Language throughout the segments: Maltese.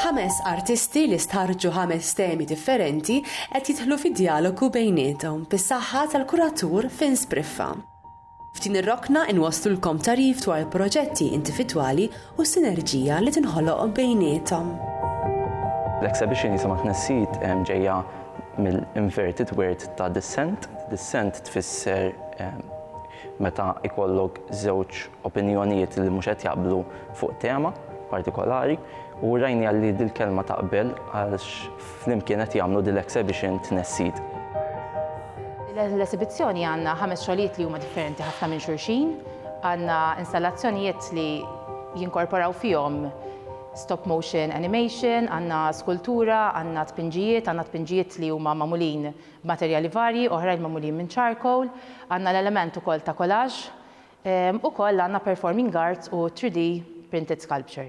Ħames artisti li stħarrġu ħames temi differenti qed jidħlu fi djalogu bejniethom bis-saħħa tal-kuratur Fin Spriffa. F'din ir-rokna inwasslulkom tagħrif dwar il-proġetti individwali u s-sinerġija li tinħoloq bejniethom. L-exhibition jisimha Tnessid ġejja mill-inverted word ta' dissent. Dissent tfisser Meta jkollok żewġ opinjonijiet li mhux qed jaqblu fuq tema partikolari u rajniha li dil-kelma taqbel għax flimkien qed jagħmlu dil-exhibition tnessid. L-esibizzjoni għandna ħames xogħlijiet li huma differenti ħafna minn xulxin. Għandna installazzjonijiet li jinkorporaw fihom stop motion animation, għandna skultura, għandna tpinġijiet, għandna tpinġijiet li huma magħmulin Materjali varji oħrajn magħmulin minn charcoal, għandna l-element ukoll ta' collage, ukoll għandna performing arts u 3D printed sculpture.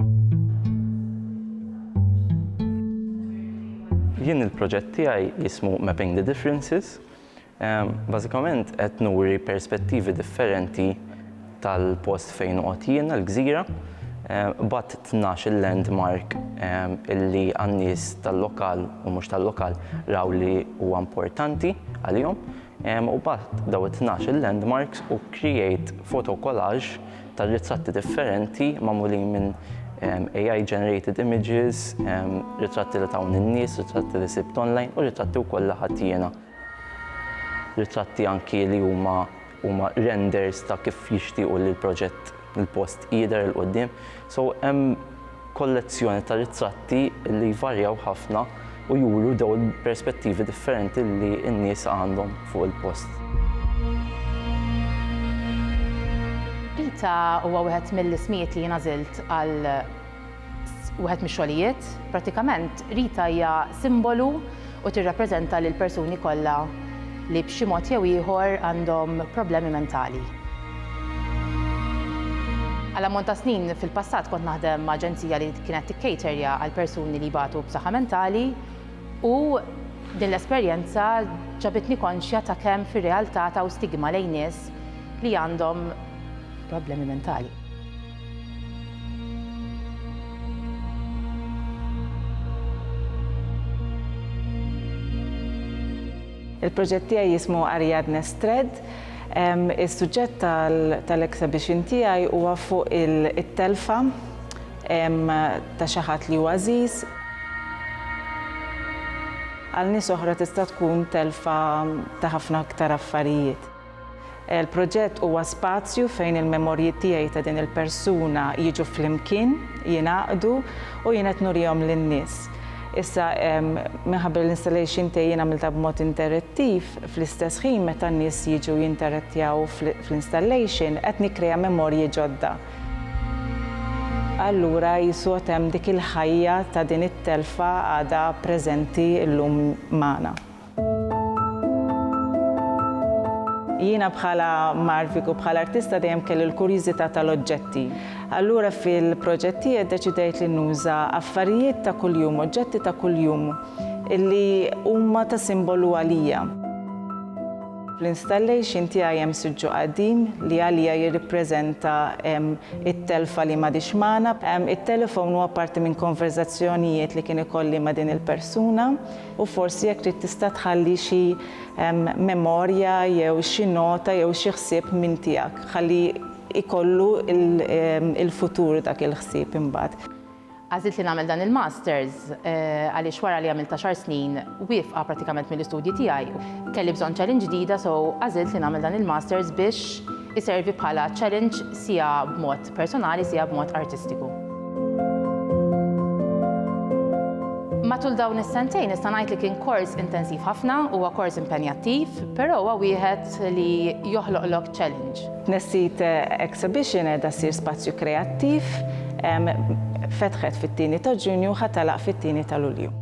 Jien il-proġett tiegħi jismu Mapping the Differences. Bażikament qed nuri perspettivi differenti tal-post fejn noqgħod jiena, l-gżira, b'għadd tnax-il landmark illi għan-nies tal-lokal u mhux tal-lokal raw li huwa importanti għalihom, u b'għadd dawn it-tnax-il landmarks u create photo collage ta' ritratti differenti magħmulin minn AI generated images, ritratti li tawni n-nies, ritratti li sibt online u ritratti wkoll li ħadt jiena. Ritratti anki li huma huma renders ta' kif jixtiequ li l-proġett, il-post, jidher 'il quddiem. So hemm kollezzjoni ta' ritratti li jvarjaw ħafna u juru dawn il-perspettivi differenti li n-nies għandhom fuq il-post. Pita huwa wieħed mill-ismijiet li jiena żilt għal wieħed mix-xogħlijiet, prattikament Rita hija simbolu u tirrappreżenta lill-persuni kollha li b'xi mod jew ieħor għandhom problemi mentali. Għal ammont ta' snin fil-passat kont naħdem ma' aġenzija li kienet tikcaterja għal persuni li jbatu b'saħħa mentali u din l-esperjenza ġabitni konxja ta' kemm fir-realtà taw stigma lejn nies li għandhom problemi mentali. Il-proġett tiegħi jismu Ariadne's Thread. Is-suġġett tal-exhibition tiegħi huwa fuq it-telfa ta' xi ħadd li hu għażiż. Għal nies oħra tista' tkun telfa ta' ħafna iktar affarijiet. Il-proġett huwa spazju fejn il-memorji tiegħi ta' din il-persuna jiġu flimkien, jingħaqdu u jien qed nurihom lin-nies. Issa, minħabba li l-installation tiegħi jien għamiltha b'mod interettiv, fl-istess ħin meta n-nies jiġu jinterettjaw fl-installation qed nikkrea memorji ġodda. Allura qisu għad hemm dik il-ħajja ta' din it-telfa għadha preżenti llum magħna. Jiena bħala marvik u bħala artista dejjem kelli l-kurjiżità tal-oġġetti. Allura fil-proġett tiegħi ddeċidejt li nuża affarijiet ta' kuljum, oġġetti ta' kuljum li huma ta' simbolu għalija. Fl-installation tiegħi hemm siġġu qadim li għalija jirrippreżenta t-telfa li m'għadhiex magħna. It-telefon huwa parti minn konverżazzjonijiet li kien ikolli ma' din il-persuna. U forsi jekk trid tista' tħalli xi memorja jew xi nota jew xi ħsieb minn tiegħek ħalli jkollu l-futur dak il-ħsieb imbagħad. Għażilt li nagħmel dan il-Masters għaliex wara li għamilt għaxar snin wieqfa prattikament mill-istudji tiegħi, kelli bżonn challenge ġdida so għażilt li nagħmel dan il-Masters biex iservi bħala challenge siegħa b'mod personali sija b'mod artistiku. Matul dawn is-sentejn nista' ngħid li kien kors intensiv ħafna, huwa kors impenjattiv, però huwa wieħed li joħloqlok challenge. Tnessit Exhibition qiegħda ssir spazju kreattiv, fetħet fit-tieni ta' Ġunju u ħa tagħlaq fit-tieni ta' Lulju.